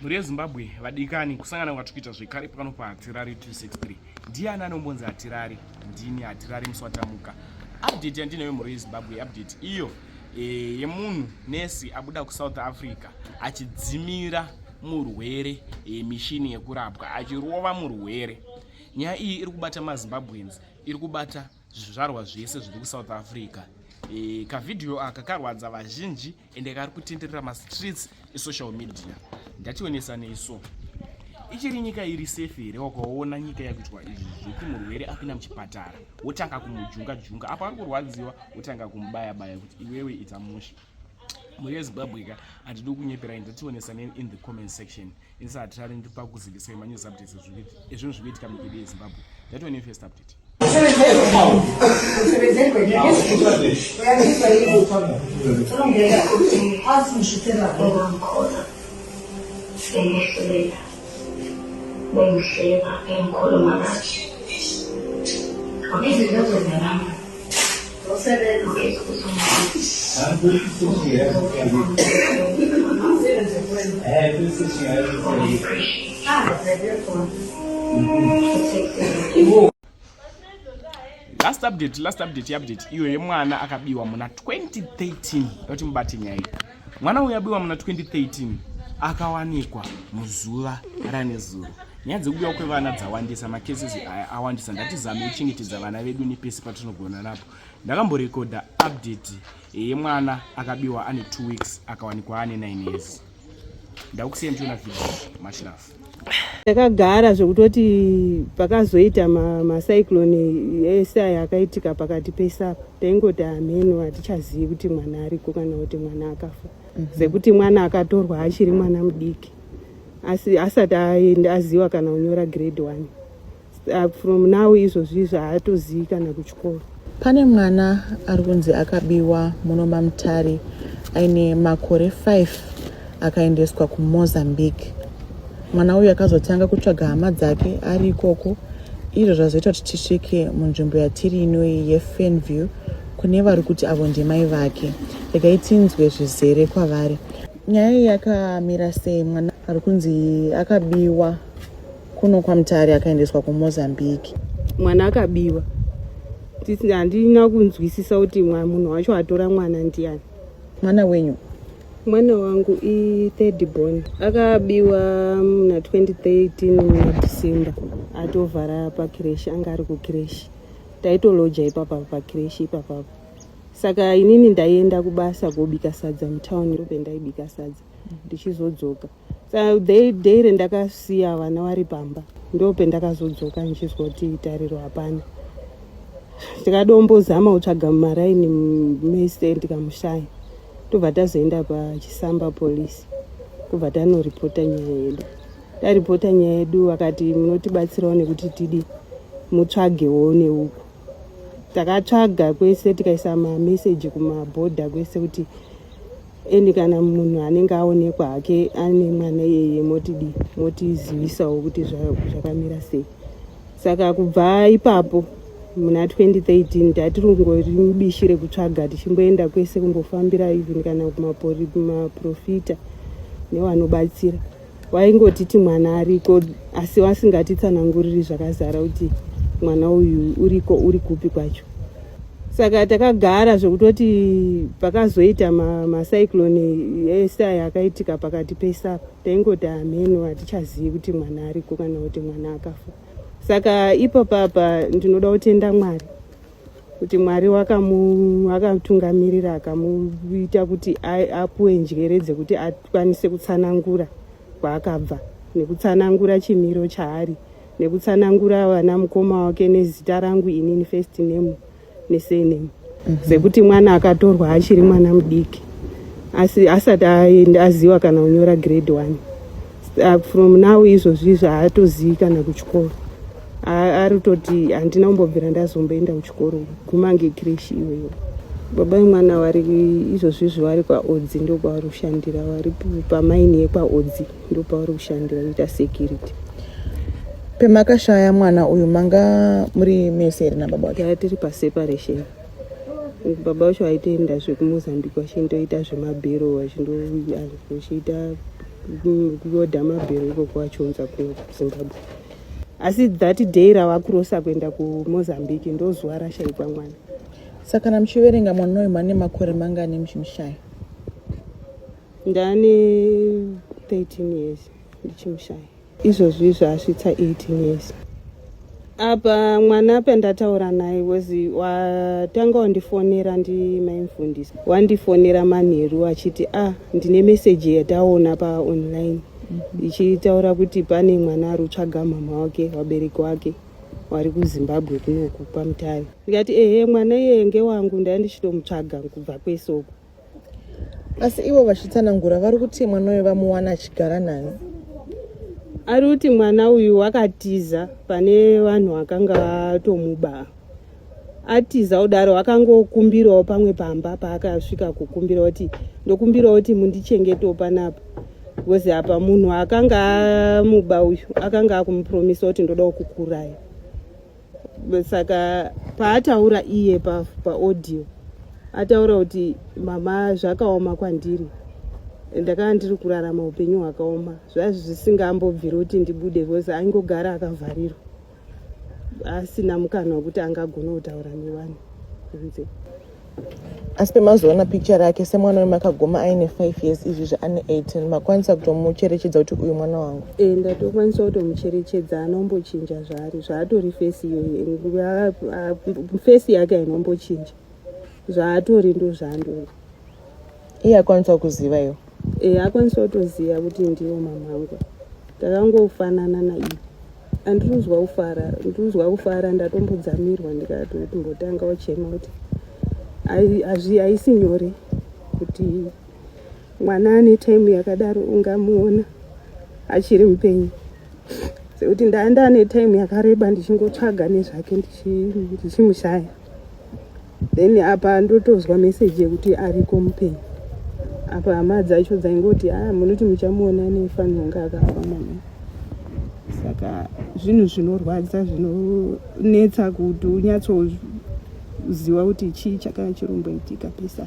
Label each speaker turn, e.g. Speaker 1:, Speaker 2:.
Speaker 1: mhuri yezimbabwe vadikani kusangana kwatiri kuita zvekare pano pahatirari 263 ndiani anombonzi hatirari ndini hatirari muswatamuka update yandinayo mhuri yezimbabwe update iyo eh, yemunhu nesi abuda kusouth africa achidzimira murwere eh, mishini yekurapwa achirova murwere nyaya iyi iri kubata mazimbabweans iri kubata zvizvarwa zvese zviri kusouth africa eh, kavhidhiyo aka karwadza vazhinji ende kari kutenderera mastreets esocial media ndationesanei so ichiri nyika iri safe here wakaona nyika yakuitwa izvi zvekuti murwere apinda muchipatara wotanga kumujunga junga apo ari kurwadziwa wotanga kumubaya baya kuti iwewe ita musha mhuri yezimbabwe ka hatidi kunyeperai ndationesanei in the comment section Insa atirari ndi pakuzivisa ma news updates zvikuti ezvinhu zvikuitika munyika yedu yeZimbabwe. That one first update. Bengihleba engikhuluma ngathi. Wabiza into kwenza nami. last update last update yeupdate iyo yemwana akabiwa muna 2013 yoti mubate nyaya Mwana uyu abiwa muna 2013 akawanikwa muzuva ranezuro. Nyaya dzekubiwa kwevana dzawandisa, macases aya awandisa. Ndatizame kuchengetedza vana vedu nepese patinogona napo. Ndakamborekodha update yemwana akabiwa ane 2 weeks akawanikwa ane 9 years. Ndakusiya ndichiona video mashirafu. takagara
Speaker 2: zvekutoti pakazoita macyclone ese aya akaitika pakati pese apa taingoti hameno hatichazivi kuti mwana ariko kana kuti mwana akafa mhm. sekuti mwana akatorwa achiri mwana mudiki asi asati aenda aziva kana kunyora grade one uh, from now izvozvizvi haatozivi kana kuchikoro pane mwana
Speaker 3: ari kunzi akabiwa muno mamutari aine makore 5 akaendeswa kumozambique mwana uyu akazotanga kutsvaga hama dzake ari ikoko izvo zvazoita kuti tisvike munzvimbo yatiri inoyi yefenview kune vari kuti avo ndimai vake regai tinzwe zvizere kwavari nyaya iyi yakamira sei mwana ari kunzi akabiwa kuno kwamutari akaendeswa kumozambique mwana
Speaker 2: akabiwa handina kunzwisisa kuti munhu wacho atora mwana ndiani mwana wenyu
Speaker 3: mwana
Speaker 2: wangu ithird born akabiwa muna 2013 muna december atovhara pakreshi anga ari kukreshi taitoloja ipapa pakreshi ipapapa saka inini ndaienda kubasa kobika sadza mutown ndope ndaibika sadza ndichizodzoka mm -hmm. so they daily ndakasiya vana vari pamba ndopendakazodzoka ndichizwa kuti tariro hapana tikadombozama kutsvaga mumaraini mese ndikamushaya tobva tazoenda pachisamba police kubva tanoripota nyaya yedu taripota nyaya yedu vakati munotibatsirawo nekuti tidi mutsvagewo neuku takatsvaga kwese tikaisa mameseji kumabhodha kwese kuti and kana munhu anenge aonekwa hake ane mwana iyeye motidii motizivisawo kuti zvakamira sei saka kubva ipapo muna 2013 tatiri kungori mubishi rekutsvaga tichimboenda kwese kumbofambira even kana kumaprofita nevanobatsira waingotiti mwana ariko asi wasingatitsananguriri zvakazara kuti mwana uyu uriko uri kupi kwacho saka takagara zvekutoti pakazoita macyclone ma ese aya akaitika pakati pesaka taingoti hameno hatichazivi kuti mwana ariko kana kuti mwana akafa saka ipapapa ndinoda kutenda mwari kuti mwari akamutungamirira akamuita kuti apuwe njere dzekuti akwanise kutsanangura kwaakabva nekutsanangura chimiro chaari nekutsanangura vana mukoma wake nezita rangu inini first name nesename mhm. sekuti mwana akatorwa achiri mwana mudiki asi asati aenda aziva kana kunyora grade one from now izvozvi zvaatozivi kana kuchikoro ari kutoti handina kumbobvira ndazomboenda kuchikoro guma ange kreshi iweyo baba vemwana vari izvozvi izvo vari kwaodzi ndo kwavari kushandira vari pamaini yekwaodzi ndo pavari kushandira kuita security
Speaker 3: pemakashaya mwana uyu manga muri mese here nababa wacho yaa tiri
Speaker 2: paseparation baba wacho aitoenda zvekumozambique vachindoita zvemabhero vachindochiita kuoda mabhero ikoko vachionza kuzimbabwe asi that day ravakurosa kuenda kumozambique ndozuva rashaikwa mwana saka kana
Speaker 3: muchiverenga mwana uyu mane makore mangani muchimushaya
Speaker 2: ndane 13 years ndichimushaya izvozvi izvo asvitsa 18 years apa mwana pandataura naye was watanga wandifonera ndimaimfundisi wandifonera manheru achiti a ah, ndine meseji yataona paonline ichitaura kuti pane mwana ari kutsvaga mama wake vabereki wake wari kuzimbabwe kunoku pamutare ndikati ehe mwana iyeye ngewangu ndai ndichitomutsvaga kubva kwese uku
Speaker 3: asi ivo vachitsanangura vari kuti mwana uyo vamuwana achigara nani
Speaker 2: ari kuti mwana uyu wakatiza pane vanhu vakanga vatomuba atiza kudaro akangokumbirawo pamwe pamba paakasvika kukumbira kuti ndokumbirawo kuti mundichengetawo panapa because apa munhu akanga amuba uyu akanga akumupromisa kuti ndoda kukuuraya saka paataura iye paaudio pa ataura kuti mama zvakaoma kwandiri ndakanga ndiri kurarama upenyu hwakaoma zvazvisingambobviri kuti ndibude because aingogara akavharirwa asina mukana wekuti angagona kutaura nevanhu kunze
Speaker 3: asi pemazoona picture yake semwana wemakagoma aine 5 years izvi zvaane 18 makwanisa kutomucherechedza kuti uyu mwana wangu e ndatokwanisa
Speaker 2: kutomucherechedza anombochinja zvaari zvaatori fesi iyoyo fesi yake ainombochinja zvaatori ndozvandori
Speaker 3: iye akwanisa kuziva iwo e eh, akwanisa kutoziva
Speaker 2: kuti ndiwo mamhangu takangofanana naiye andiruzwa kufara ndiruzwa kufara ndatombodzamirwa ndikatombotanga uchema kuti haisi nyore kuti mwana ane time yakadaro ungamuona achiri mupenyu sekuti ndaenda ane time yakareba ndichingotsvaga nezvake ndichimushaya then apa ndotonzwa message yekuti ariko mupenyu apa hama dzacho dzaingoti a ah, munoti muchamuona nefanirwa kunge akafa mama saka zvinhu zvinorwadza zvinonetsa kuti unyatsoziva kuti chii chakanga chiromboitika pesa